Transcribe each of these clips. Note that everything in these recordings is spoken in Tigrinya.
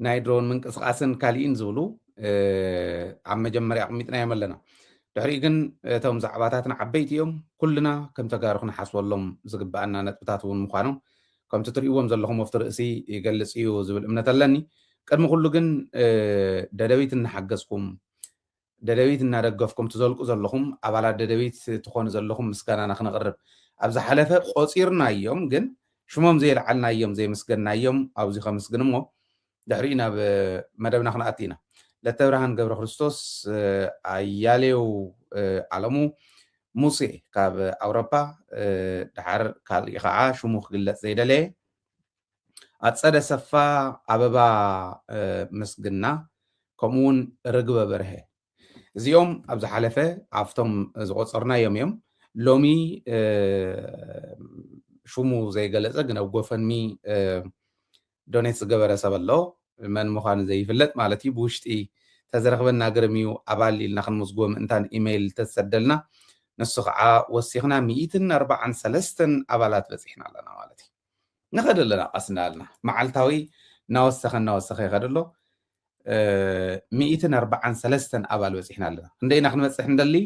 ናይ ድሮን ምንቅስቓስን ካሊእን ዝብሉ ኣብ መጀመርያ ኣቕሚጥናዮም ኣለና ድሕሪኡ ግን እቶም ዛዕባታትን ዓበይቲ እዮም ኩልና ከም ተጋሩ ክንሓስበሎም ዝግባኣና ነጥብታት እውን ምዃኖም ከምቲ ትርእይዎም ዘለኹም ወፍቲ ርእሲ ይገልፅ እዩ ዝብል እምነት ኣለኒ ቅድሚ ኩሉ ግን ደደቢት እናሓገዝኩም ደደቢት እናደገፍኩም ትዘልቁ ዘለኹም ኣባላት ደደቢት ትኾኑ ዘለኹም ምስጋናና ክነቕርብ ኣብ ዝሓለፈ ቆጺርናዮም ግን ሽሞም ዘየልዓልናዮም ዘየመስገንናዮም ኣብዚ ከምስግን እሞ ድሕሪኡ ናብ መደብና ክንኣቲ ኢና ለተብርሃን ገብረ ክርስቶስ ኣያሌው ኣለሙ ሙሴ ካብ ኣውሮፓ ድሓር ካልእ ከዓ ሽሙ ክግለፅ ዘይደለየ ኣጸደ ኣሰፋ፣ ኣበባ ምስግና ከምኡውን ርግበ በርሀ እዚኦም ኣብ ዝሓለፈ ኣብቶም ዝቆጸርናዮም እዮም ሎሚ ሽሙ ዘይገለጸ ግን ኣብ ጎፈንሚ ዶኔት ዝገበረ ሰብ ኣሎ መን ምዃኑ ዘይፍለጥ ማለት እዩ ብውሽጢ ተዝረኽበና ግርም እዩ ኣባል ኢልና ክንምዝግቦ ምእንታን ኢመይል ተዝሰደልና ንሱ ከዓ ወሲኽና ሚእትን ኣርባዓን ሰለስተን ኣባላት በፂሕና ኣለና ማለት እዩ ንኸድ ኣለና ቀስ እናበልና መዓልታዊ እናወሰኸ እናወሰኸ ይኸድ ኣሎ ሚእትን ኣርባዓን ሰለስተን ኣባል በፂሕና ኣለና ክንደይ ኢና ክንበፅሕ ንደሊ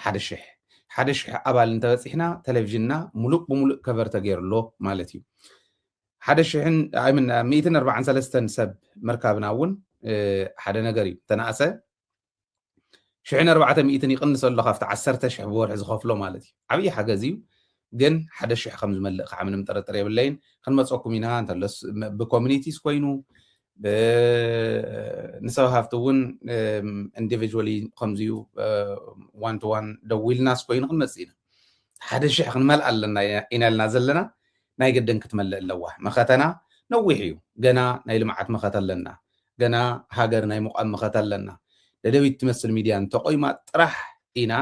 ሓደ ሽሕ ሓደ ሽሕ ኣባል እንተበፂሕና ቴሌቭዥንና ሙሉእ ብሙሉእ ከቨር ተገይሩሎ ማለት እዩ ሓደ ሽሕን ሚእትን ኣርባዓን ሰለስተን ሰብ ምርካብና እውን ሓደ ነገር እዩ ተናእሰ ሽሕን ኣርባዕተ ሚእትን ይቕንስ ኣሎ ካብቲ ዓሰርተ ሽሕ ብወርሒ ዝኸፍሎ ማለት እዩ ዓብዪ ሓገዝ እዩ ግን ሓደ ሽሕ ከም ዝመልእ ከዓ ምንም ጥርጥር የብለይን ክንመፀኩም ኢና እንተለስ ብኮሚኒቲስ ኮይኑ ንሰብ ሃፍቲ እውን ኢንዲቪጁዋሊ ከምዚዩ ዋን ቱ ዋን ደዊልናስ ኮይኑ ክንመፅእ ኢና ሓደ ሽሕ ክንመልእ ኣለና ኢና ኢልና ዘለና ናይ ግድን ክትመልእ ኣለዋ መኸተና ነዊሕ እዩ ገና ናይ ልምዓት መኸተ ኣለና ገና ሃገር ናይ ምቛም መኸተ ኣለና ደደቢት ትመስል ሚድያ እንተቆይማ ጥራሕ ኢና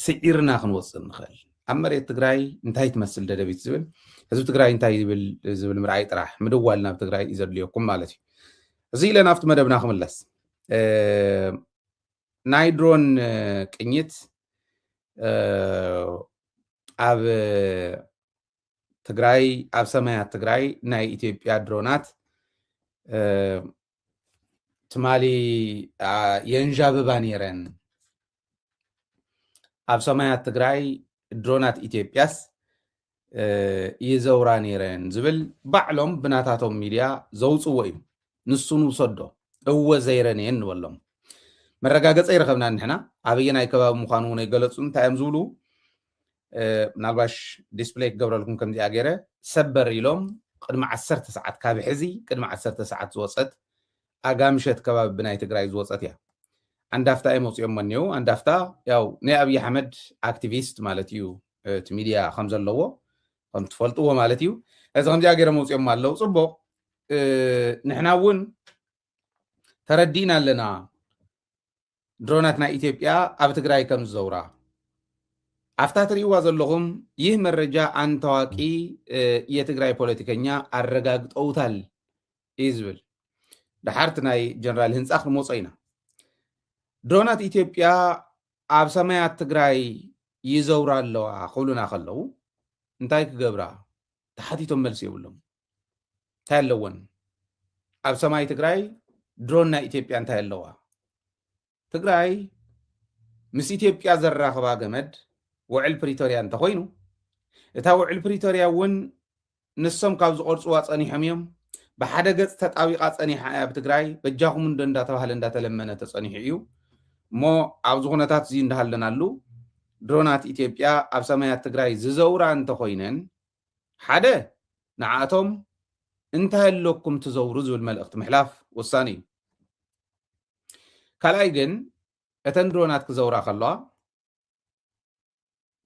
ስዒርና ክንወፅእ ንኽእል ኣብ መሬት ትግራይ እንታይ ትመስል ደደቢት ዝብል ህዝቢ ትግራይ እንታይ ይብል ዝብል ምርኣይ ጥራሕ ምድዋል ናብ ትግራይ እዩ ዘድልየኩም ማለት እዩ እዚ ኢለ ናብቲ መደብና ክምለስ ናይ ድሮን ቅኝት ኣብ ትግራይ ኣብ ሰማያት ትግራይ ናይ ኢትዮጵያ ድሮናት ትማሊ የንዣብባ ነይረን ኣብ ሰማያት ትግራይ ድሮናት ኢትዮጵያስ ይዘውራ ነይረን ዝብል ባዕሎም ብናታቶም ሚድያ ዘውፅዎ እዩ ንሱ ንውሰዶ እወ ዘይረን እየን ንበሎም መረጋገፀ ይረኸብና ንሕና ኣበየናይ ከባቢ ምዃኑ እውን ኣይገለፁን እንታይ እዮም ዝብሉ ምናልባሽ ዲስፕሌይ ክገብረልኩም ከምዚኣ ገይረ ሰበር ኢሎም ቅድሚ ዓሰርተ ሰዓት ካብ ሕዚ ቅድሚ ዓሰርተ ሰዓት ዝወፀት ኣጋምሸት ከባቢ ብናይ ትግራይ ዝወፀት እያ ኣንዳፍታ እዮም ኣውፅኦሞ እኒው ኣንዳፍታ ያው ናይ ኣብይ ኣሕመድ ኣክቲቪስት ማለት እዩ እቲ ሚድያ ከም ዘለዎ ከም ትፈልጥዎ ማለት እዩ እዚ ከምዚኣ ገይሮም ኣውፅኦሞ ኣለው ፅቡቅ ንሕና እውን ተረዲእና ኣለና ድሮናት ናይ ኢትዮጵያ ኣብ ትግራይ ከም ዝዘውራ ኣፍታ ትርእይዋ ዘለኹም ይህ መረጃ ኣን ታዋቂ የትግራይ ፖለቲከኛ ኣረጋግጠውታል እዩ ዝብል ድሓርቲ ናይ ጀነራል ህንፃ ክንመፆ ኢና ድሮናት ኢትዮጵያ ኣብ ሰማያት ትግራይ ይዘውራ ኣለዋ ክብሉና ከለው እንታይ ክገብራ ተሓቲቶም መልሲ የብሎም እንታይ ኣለወን ኣብ ሰማይ ትግራይ ድሮን ናይ ኢትዮጵያ እንታይ ኣለዋ ትግራይ ምስ ኢትዮጵያ ዘራኽባ ገመድ ውዕል ፕሪቶርያ እንተኮይኑ እታ ውዕል ፕሪቶርያ እውን ንሶም ካብ ዝቆርፅዋ ፀኒሖም እዮም ብሓደ ገፅ ተጣቢቃ ፀኒሓ እያ ኣብ ትግራይ በጃኹም እንዶ እንዳተባሃለ እንዳተለመነ ተፀኒሑ እዩ እሞ ኣብዚ ኩነታት እዚ እንዳሃለናሉ ድሮናት ኢትዮጵያ ኣብ ሰማያት ትግራይ ዝዘውራ እንተኮይነን ሓደ ንዓኣቶም እንታይ ኣለኩም ትዘውሩ ዝብል መልእኽቲ ምሕላፍ ወሳኒ እዩ። ካልኣይ ግን እተን ድሮናት ክዘውራ ከለዋ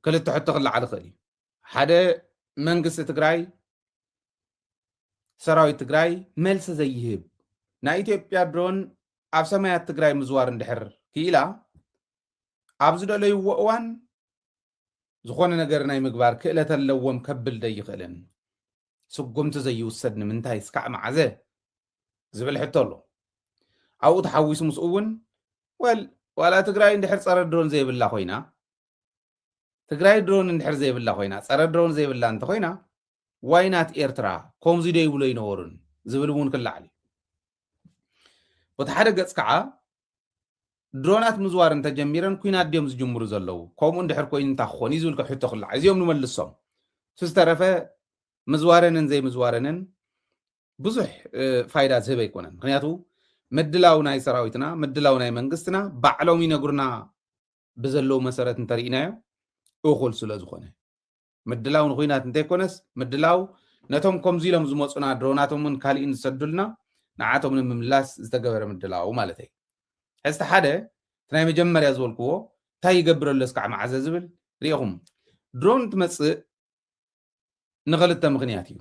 ክልተ ሕቶ ክለዓል ይኽእል እዩ። ሓደ መንግስቲ ትግራይ ሰራዊት ትግራይ መልሲ ዘይህብ ናይ ኢትዮጵያ ድሮን ኣብ ሰማያት ትግራይ ምዝዋር እንድሕር ክኢላ ኣብ ዝደለይዎ እዋን ዝኾነ ነገር ናይ ምግባር ክእለት ኣለዎም ከብል ዘይኽእልን ስጉምቲ ዘይውሰድ ንምንታይ እስካዕ መዓዘ ዝብል ሕቶ ኣሎ ኣብኡ ተሓዊሱ ምስኡ እውን ወል ዋላ ትግራይ እንድሕር ፀረ ድሮን ዘይብላ ኮይና ትግራይ ድሮን እንድሕር ዘይብላ ኮይና ፀረ ድሮን ዘይብላ እንተኮይና ዋይ ናት ኤርትራ ኮምዚ ዶ ይብሉ ኣይነበሩን ዝብል እውን ክለዓል እዩ። በቲ ሓደ ገጽ ከዓ ድሮናት ምዝዋር እንተጀሚረን ኩናት ድዮም ዝጅምሩ ዘለዉ ከምኡ እንድሕር ኮይኑ እንታይ ክኾን እዩ ዝብል ሕቶ ክለዓል እዚኦም ንመልሶም እቲ ዝተረፈ ምዝዋረንን ዘይምዝዋረንን ብዙሕ ፋይዳ ዝህብ ኣይኮነን ምክንያቱ ምድላው ናይ ሰራዊትና ምድላው ናይ መንግስትና ባዕሎም ይነግሩና ብዘለዉ መሰረት እንተርኢናዮ እኹል ስለ ዝኾነ ምድላው ንኩናት እንተይኮነስ ምድላው ነቶም ከምዚ ኢሎም ዝመፁና ድሮናቶምን ካሊእን ዝሰዱልና ንዓቶም ንምምላስ ዝተገበረ ምድላው ማለተይ ሕዝቲ ሓደ እቲ ናይ መጀመርያ ዝበልክዎ እንታይ ይገብር ኣሎ እስካዕ መዓዘ ዝብል ሪኢኹም ድሮን ትመፅእ ንክልተ ምክንያት እዩ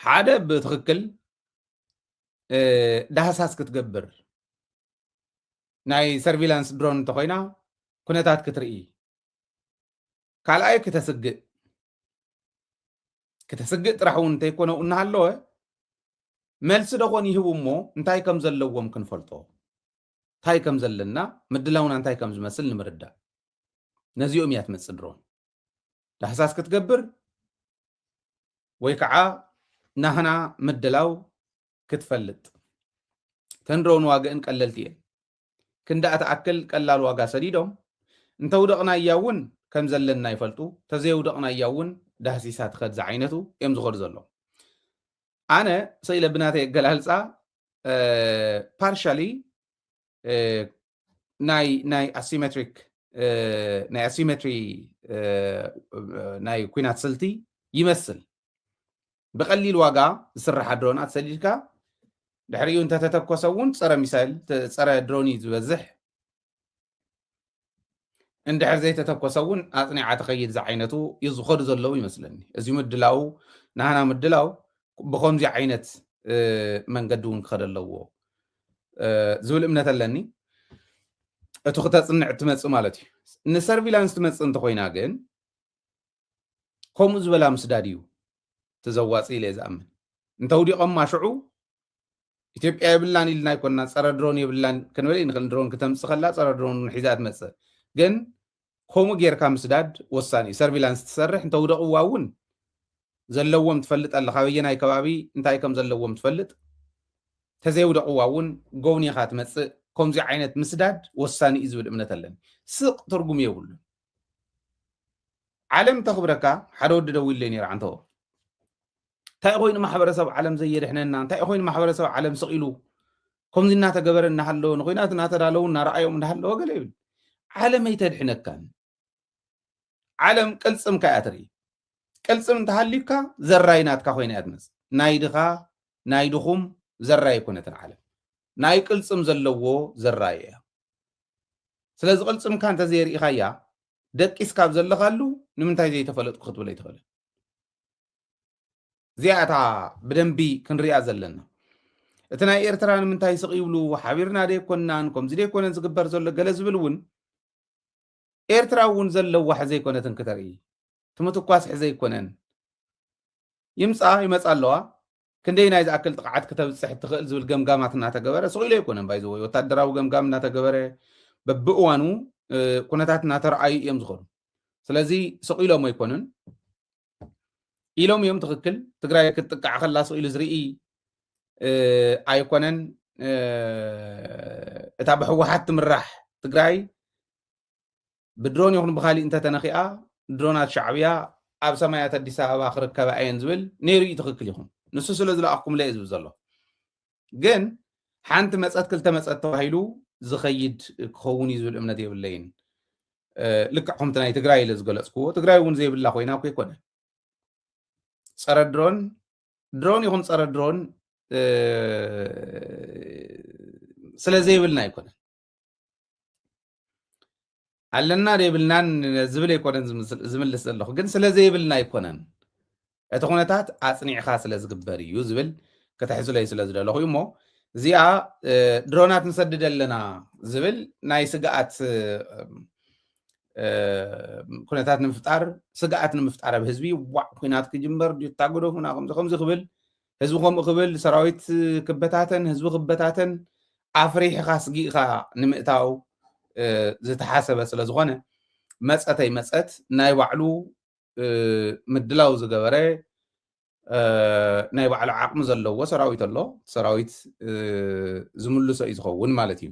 ሓደ ብትክክል ዳህሳስ ክትገብር ናይ ሰርቪላንስ ድሮን እንተኮይና ኩነታት ክትርኢ ካልኣይ ክተስግእ ክተስግእ ጥራሕ እውን እንተይኮነ እናሃለወ መልሲ ደኾን ይህቡ እሞ እንታይ ከም ዘለዎም ክንፈልጦ እንታይ ከም ዘለና ምድላውና እንታይ ከም ዝመስል ንምርዳእ ነዚኦም እያ ትመፅእ ድሮን ዳህሳስ ክትገብር ወይ ከዓ ናህና ምድላው ክትፈልጥ ተንድሮን ዋግእን ቀለልቲ እየን ክንድኣ ትኣክል ቀላል ዋጋ ሰዲዶም፣ እንተውደቕናያ እውን ከም ዘለና ይፈልጡ፣ ተዘየውደቕናያ እውን ዳህሲሳ ትኸድ ዝዓይነቱ እዮም ዝኸዱ ዘለዉ። ኣነ ሰኢለ ብናተይ ኣገላልፃ ፓርሻሊ ናይ ናይ ኣሲሜትሪክ ናይ ኣሲሜትሪ ናይ ኩናት ስልቲ ይመስል ብቀሊል ዋጋ ዝስራሓ ድሮናት ሰዲድካ ድሕሪኡ እንተተተኮሰ እውን ፀረ ሚሳይል ፀረ ድሮን እዩ ዝበዝሕ እንድሕር ዘይተተኮሰ እውን ኣፅኒዓ ተኸይድ ዝዓይነቱ እዩ ዝኸዱ ዘለዉ ይመስለኒ እዚ ምድላው ናህና ምድላው ብከምዚ ዓይነት መንገዲ እውን ክኸደ ኣለዎ ዝብል እምነት ኣለኒ እቲ ክተፅንዕ እትመፅእ ማለት እዩ ንሰርቪላንስ ትመፅእ እንተኮይና ግን ከምኡ ዝበላ ምስዳድ እዩ እቲ ዘዋጽእ ኢለ ዝኣምን። እንተውዲቖማ ሽዑ ኢትዮጵያ የብላን ኢልና ኣይኮንና ፀረ ድሮን የብላን ክንብል ንኽእል ድሮን ክተምፅእ ከላ ፀረ ድሮን እውን ሒዛ ትመፅእ ግን ከምኡ ጌርካ ምስዳድ ወሳኒ እዩ ሰርቪላንስ ትሰርሕ እንተውደቕዋ እውን ዘለዎም ትፈልጥ ኣለካ ኣበየናይ ከባቢ እንታይ ከም ዘለዎም ትፈልጥ ተዘይውደቕዋ እውን ጎብኒኻ ትመፅእ ከምዚ ዓይነት ምስዳድ ወሳኒ እዩ ዝብል እምነት ኣለኒ ስቕ ትርጉም የብሉን ዓለም ተኽብረካ ሓደ ወዲ ደዊለይ ነይሩ ዓንተቦ እንታይ ኮይኑ ማሕበረሰብ ዓለም ዘየድሕነና እንታይ ኮይኑ ማሕበረሰብ ዓለም ስቕ ኢሉ ከምዚ እናተገበረ እናሃለወ ንኩናት እናተዳለዉ እናረኣዮም እናሃለወ ገለ ይብል ዓለም ኣይተድሕነካን ዓለም ቅልፅምካ እያ ትርኢ ቅልፅም እንተሃልዩካ ዘራይ ናትካ ኮይና እያ ትመፅእ ናይ ድኻ ናይ ድኹም ዘራይ ኣይኮነትን ዓለም ናይ ቅልፅም ዘለዎ ዘራይ እያ ስለዚ ቅልፅምካ እንተዘየርኢኻያ ደቂስካ ኣብ ዘለኻሉ ንምንታይ ዘይተፈለጥኩ ክትብል ኣይትኽእልን እዚኣ እታ ብደንቢ ክንሪኣ ዘለና እቲ ናይ ኤርትራ ንምንታይ ስቕ ይብሉ ሓቢርና ደይኮናን ከምዚ ደይኮነን ዝግበር ዘሎ ገለ ዝብል እውን ኤርትራ እውን ዘለዋ ሕዘ ይኮነትን ክተርኢ እቲ ምትኳስ ሕዘ ይኮነን ይምፃ ይመፃ ኣለዋ ክንደይናይ ዝኣክል ጥቕዓት ክተብፅሕ እትኽእል ዝብል ገምጋማት እናተገበረ ስቕ ኢሉ ኣይኮነን ባይዘወይ ወታደራዊ ገምጋም እናተገበረ በብእዋኑ ኩነታት እናተረኣዩ እዮም ዝኾኑ ስለዚ ስቕ ኢሎም ኣይኮኑን ኢሎም እዮም ትኽክል ትግራይ ክትጥቃዕ ከላ ስቕ ኢሉ ዝርኢ ኣይኮነን እታ ብሕወሓት ትምራሕ ትግራይ ብድሮን ይኹን ብኻሊእ እንተተነኺኣ ድሮናት ሻዕብያ ኣብ ሰማያት ኣዲስ ኣበባ ክርከባ እየን ዝብል ነይሩ እዩ ትኽክል ይኹን ንሱ ስለ ዝለኣኽኩምለ እዩ ዝብል ዘሎ ግን ሓንቲ መፀት ክልተ መፀት ተባሂሉ ዝኸይድ ክኸውን እዩ ዝብል እምነት የብለይን ልክዕ ከምቲ ናይ ትግራይ ኢለ ዝገለፅክዎ ትግራይ እውን ዘይብላ ኮይና እኮ ይኮነ ፀረ ድሮን ድሮን ይኹን ፀረ ድሮን ስለ ዘይብልና ኣይኮነን ኣለና ዶ የብልናን ዝብል ኣይኮነን ዝምስ- ዝምልስ ዘለኹ ግን ስለ ዘይብልና ኣይኮነን እቲ ኩነታት ኣፅኒዕኻ ስለ ዝግበር እዩ ዝብል ከተሕዝለዩ ስለ ዝደለኹ እዩ እሞ እዚኣ እ፣ ድሮናት ንሰድድ ኣለና ዝብል ናይ ስግኣት እ፣ እ፣ ኩነታት ንምፍጣር ስግኣት ንምፍጣር ኣብ ህዝቢ ዋዕ ኩናት ክጅመር ድዩ ታግዶ ኩና ከምዚ ከምዚ ክብል ህዝቢ ከምኡ ክብል ሰራዊት ክበታተን ህዝቢ ክበታተን ኣፍሪሕኻ ስጊእኻ ንምእታው ዝተሓሰበ ስለ ዝኾነ መፀተይ መፀት ናይ ባዕሉ ምድላው ዝገበረ ናይ ባዕሉ ዓቕሚ ዘለዎ ሰራዊት ኣሎ ሰራዊት ዝምልሶ እዩ ዝኸውን ማለት እዩ